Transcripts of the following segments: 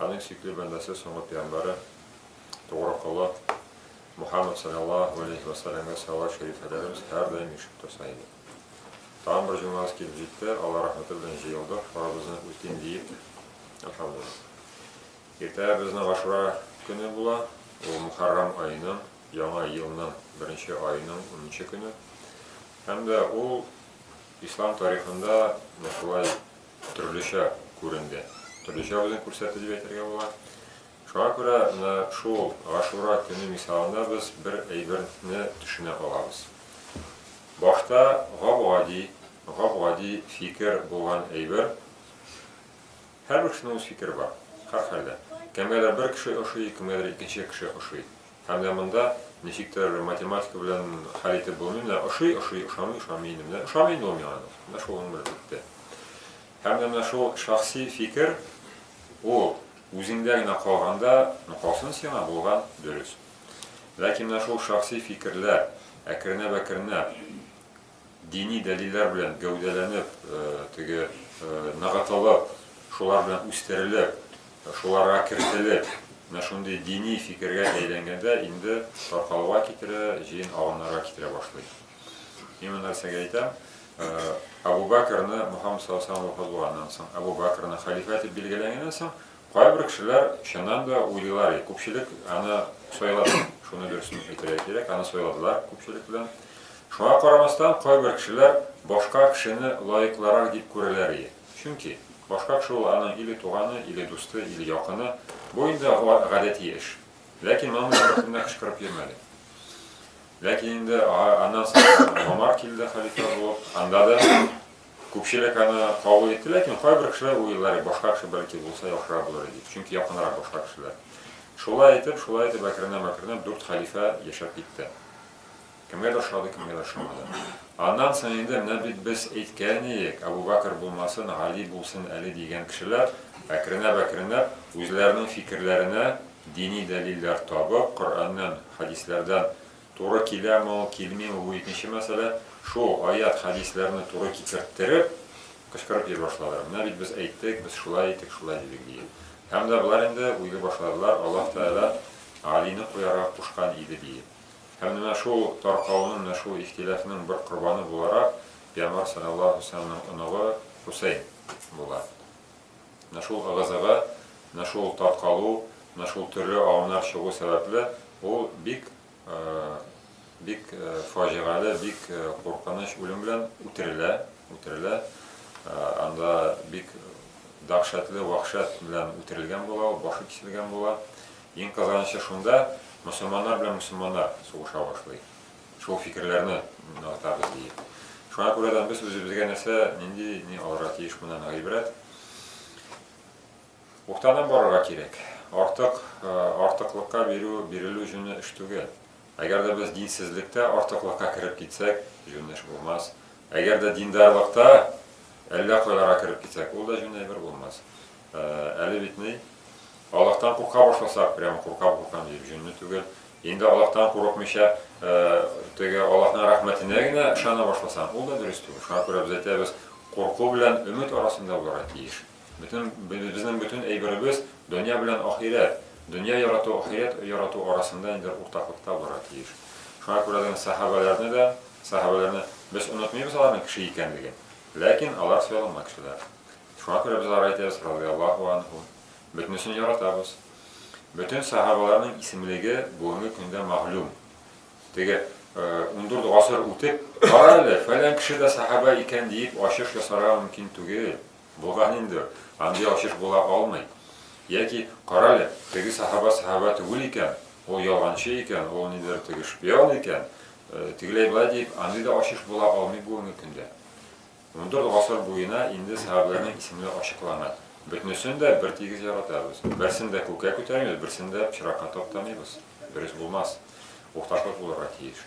Аның чикле бәндәсе соңгы пиямбәре, тугры колы Мухаммәд салләллаһу галәйһи вә сәлләмгә сәлават шәрифәләребез һәрдаим ишетеп торса иде. Тагын бер җомгабыз килеп җитте, Алла рәхмәте белән җыелдык, фарызыбызны үтим диеп, әлхәмдуллаһ. Иртәгә безнең Гашура көне була, ул Мухәррам аеның, яңа елның беренче аеның унынчы көне һәм дә ул ислам тарихында шулай төрлечә күренде, төрлечә үзен күрсәтте дип әйтергә була. Шуңа күрә менә шул Гашура көне мисалында без бер әйберне төшенә калабыз. Башта гап-гади, гап-гади фикер булган әйбер, һәрбер кешенең үз фикере бар, һәрхәлдә. Кемгәдер бер кеше ошый, кемгәдер икенче кеше ошый. Һәм менә монда ничектер математика белән хәл итеп булмый, менә ошый, ошый, ошамый, ошамый инде, менә ошамый инде ул миңа, менә шул гомер бетте. Һәм менә шул шәхси фикер, ул үзеңдә генә калганда, ну калсын сиңа, булган, дөрес. Ләкин менә шул шәхси фикерләр әкренләп-әкренләп Дини дәлилләр белән гәүдәләнеп, теге, ныгытылып, шулар белән үстерелеп, шуларга кертелеп, менә шундый дини фикергә әйләнгәндә инде таркалуга китерә, җыен агымнарга китерә башлый. Мин моны нәрсәгә әйтәм? Әбу Бәкерне Мөхәммәд саллаллаһу алейһи ва саллям вафат булганнан соң, Әбу Бәкерне хәлифә итеп билгеләнгәннән соң, Кайбер кешеләр чыннан да уйлыйлар, и күпчелек аны сайлады, шуны дөресен әйтергә кирәк, аны сайладылар күпчелек белән. Шуңа карамастан, кайбер кешеләр башка кешене лаеклырак дип күрәләр и. Чөнки, башка кеше ул аның или туганы, или дусты, или якыны. Бу инде гадәти эш. Ләкин моның белән беркемдә кычкырып йөрмәде. Ләкин инде аннан соң Гомар килде хәлифә булып, анда да Күпчелек аны кабул итте, ләкин кайбер кешеләр уйлар, башка кеше бәлки булса яхшырак булыр иде дип, чөнки якынрак башка кешеләр. Шулай итеп, шулай итеп, әкренләп-әкренләп дүрт хәлифә яшәп китте. Кемгәдер ошады, кемгәдер ошамады. Аннан соң инде менә бит без әйткән идек, Әбу Бәкер булмасын, Гали булсын әле дигән кешеләр әкренләп-әкренләп үзләренең фикерләренә дини дәлилләр табып, Коръәннән, хәдисләрдән Туры киләме ул, килмиме, бу икенче мәсьәлә. Шул аять, хәдисләрне туры китертереп, кычкырып йөри башладылар. Менә бит без әйттек, без шулай әйттек, шулай дидек, дигән. Һәм дә болар инде уйлый башладылар, Аллаһ Тәгалә Галине куярга кушкан иде, диеп. Һәм менә шул таркауның, менә шул ихтилафның бер корбаны буларак, пәйгамбәр салләллаһу галәйһи ва сәлләмнең оныгы Хусәйн була. Менә шул ыгы-зыгы, менә шул таркалу, менә шул төрле агымнар чыгу сәбәпле, ул бик, бик фаҗигале, бик куркыныч үлем белән үтерелә, үтерелә. Анда бик дәһшәтле вәхшәт белән үтерелгән була ул, башы киселгән була. Иң кызганычы шунда, мөселманнар белән мөселманнар сугыша башлый. Шул фикерләрне ныгытабыз ди. Шуңа күрә дә без үзебезгә нәрсә, нинди, ни алырга тиеш моннан гыйбрәт. Уктанып барырга кирәк. Артык, э, артыклыкка бирү, бирелү җүне эш түгел. Әгәр дә без динсезлектә артыклыкка кереп китсәк, җүнле эш булмас. Әгәр дә диндарлыкта әллә кайларга кереп китсәк, ул да җүнле әйбер булмас. Әле бит ни, Аллаһтан курка башласак, прямо куркам, куркам дип, җинне түгел. Инде Аллаһтан курыкмыйча, теге Аллаһның рәхмәтенә генә ышана башласаң, ул да дөрес түгел. Шуңа күрә без әйтәбез, курку белән өмет арасында булырга тиеш. Бөтен безнең бөтен әйберебез дөнья белән ахирәт, дөнья ярату, ахирәт ярату арасында инде уртаклыкта булырга тиеш. Шуңа күрә дә сахабаларны да, сахабаларны без онытмыйбыз аларның кеше икәнлеген. Ләкин алар сайланма кешеләр. Шуңа күрә без алар әйтәбез, радиаллаһу анһу, бөтенесен яратабыз. Бөтен сәхабаларның исемлеге бүгенге көндә мәгълүм. Теге 14 гасыр үтеп, кара әле, фәлән кеше дә сәхаба икән диеп ачыш ясарга мөмкин түгел. Булган инде, андый ачыш була алмый. Яки кара әле, теге сәхаба сәхаба түгел икән, ул ялганчы икән, ул нидер теге шпион икән, тегеләй-болай дип, андый да ачыш була алмый бүгенге көндә. Ундүрт гасыр буена инде сәхабәләрнең исемләре ачыклана. Бөтнесен дә бертигез яратабыз. Берсен дә күккә күтәрмибез, берсен дә пычракка таптамыйбыз. Дөрес булмас. Уртаклык булырга тиеш.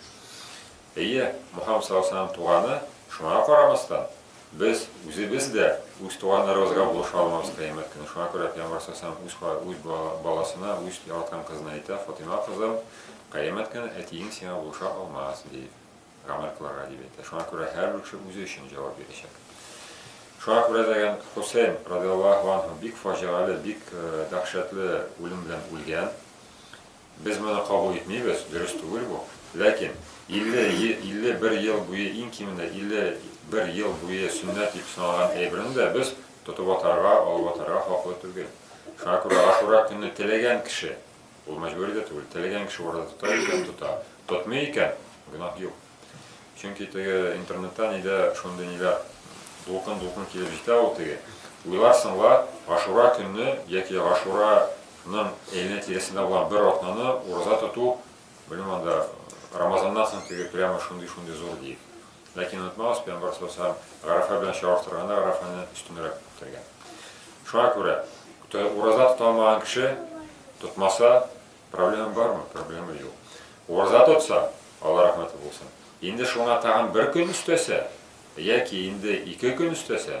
Әйе, Мухаммад саллаллаһу алейһи ва сәлләм туганы, шуңа карамастан, без үзебез дә үз туганнарыбызга булыша алмабыз кыямәт көне. Шуңа күрә пәйгамбәр саллаллаһу алейһи ва сәлләм үз баласына, үз яраткан кызына әйтә, Фатыйма кызым, кыямәт көне әтиең сиңа булыша алмас, ди. гамәл кылырга дип әйтә. Шуңа күрә һәрбер кеше үзе өчен җавап бирәчәк. Шуңа күрә дигән Хусейн радиаллаһу анһу бик фаҗигале, бик дәһшәтле үлем белән үлгән. Без моны кабул итмибез, дөрес түгел бу. Ләкин 50-51 ел буе, иң кимендә 51 ел буе сөннәт дип саналган әйберне дә без тотып атарга, алып атарга хаклы түгел. Шуңа күрә Ашура көнне теләгән кеше Ул мәҗбүри дә түгел, теләгән кеше барып та тота, йөкләп тота. Тотмый икән, гөнаһ юк. Чөнки теге интернетта нидә шундый ниләр дулкын-дулкын килеп җитә ул теге. Уйларсың ла, Гашура көнне яки Гашураның әйләнә тирәсендә булган бер атнаны ураза тоту, белмим анда Рамазаннан соң теге прямо шундый-шундый зур диеп. Ләкин онытмагыз, пәйгамбәр саллаллаһу алейһи ва сәлләм Гарәфә белән чагыштырганда Гарәфәне өстенрәк үткәргән. Шуңа күрә ураза тота алмаган кеше тотмаса, проблема бармы? Проблема юк. Ураза тотса, Алла рәхмәте булсын. Инде шуңа тагын бер көн өстәсә, яки инде ике көн өстәсә,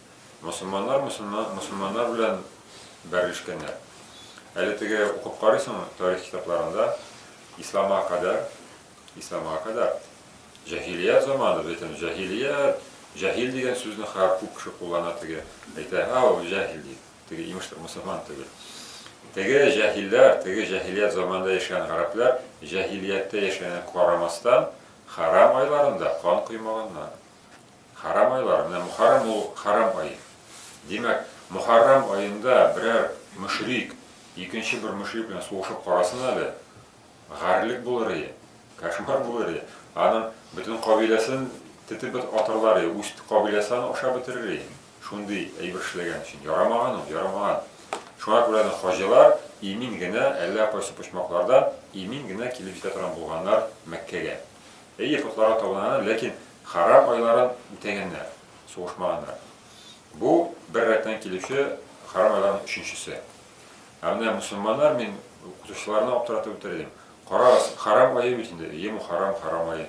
Мосылманнар мосылман мосылманнар белән бәрелешкәннәр. Әле теге укып карыйсың тарих китапларында, исламга кадәр, исламга кадәр җаһилият заманы бит инде, җаһилият, җаһил дигән сүзне хәзер күп кеше куллана теге, әйтә, һа, ул җаһил ди, теге имеш мусульман түгел. Теге җаһилләр, теге җаһилият заманында яшәгән гарәпләр җаһилияттә яшәгәнгә карамастан, хәрам айларында кан коймаганнар. Хәрам айлар, менә Мөхәррәм ул хәрам ай. Димәк, Мөхәррәм аенда берәр мөшрик икенче бер мөшрик белән сугышып карасын әле, гарьлек булыр ие, кошмар булыр ие, аның бөтен кабиләсен тетеп атарлар ие, үз кабиләсе аны ашап бетерер ие, шундый әйбер эшләгән өчен. Ярамаган ул, ярамаган. Шуңа күрә дә хаҗилар имин генә, әллә кайсы почмаклардан имин генә килеп җитә торган булганнар Мәккәгә. Әйе, котларга табыналар, ләкин харам айларын үтәгәннәр, сугышмаганнар. Бу бер рәттән килүче харам айларның өченчесе. Ә менә мусульманнар, мин укытучыларны аптыратып үтердем. Карагыз, харам ае бит инде, әйе, мухаррам, харам ае.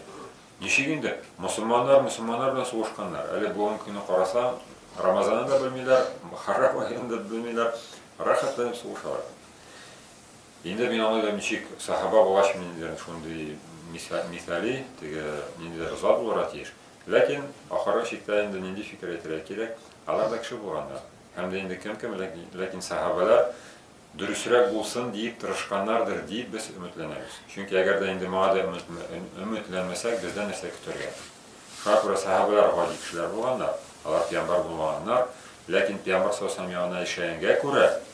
Ничек инде мусульманнар мусульманнар белән сугышканнар? Әле бүгенге көнне карасаң, Рамазанны да белмиләр, харам аен да белмиләр, рәхәтләнеп сугышалар. Инде мин аны ничек сахаба булгач мин инде шундый мисали, теге ниндидер зат булырга тиеш. Ләкин ахыргы чиктә инде нинди фикер әйтергә кирәк, алар да кеше булганнар. Һәм дә инде кем кем, ләкин сахабалар дөресрәк булсын диеп тырышканнардыр диеп без өметләнәбез. Чөнки әгәр дә инде моңа да өметләнмәсәк, бездән нәрсә көтәргә? Шуңа күрә сахабалар гади кешеләр булганнар, алар пиямбар булмаганнар, ләкин пиямбар саллаллаһу алейһи ва саллям ягына эшләгәнгә күрә,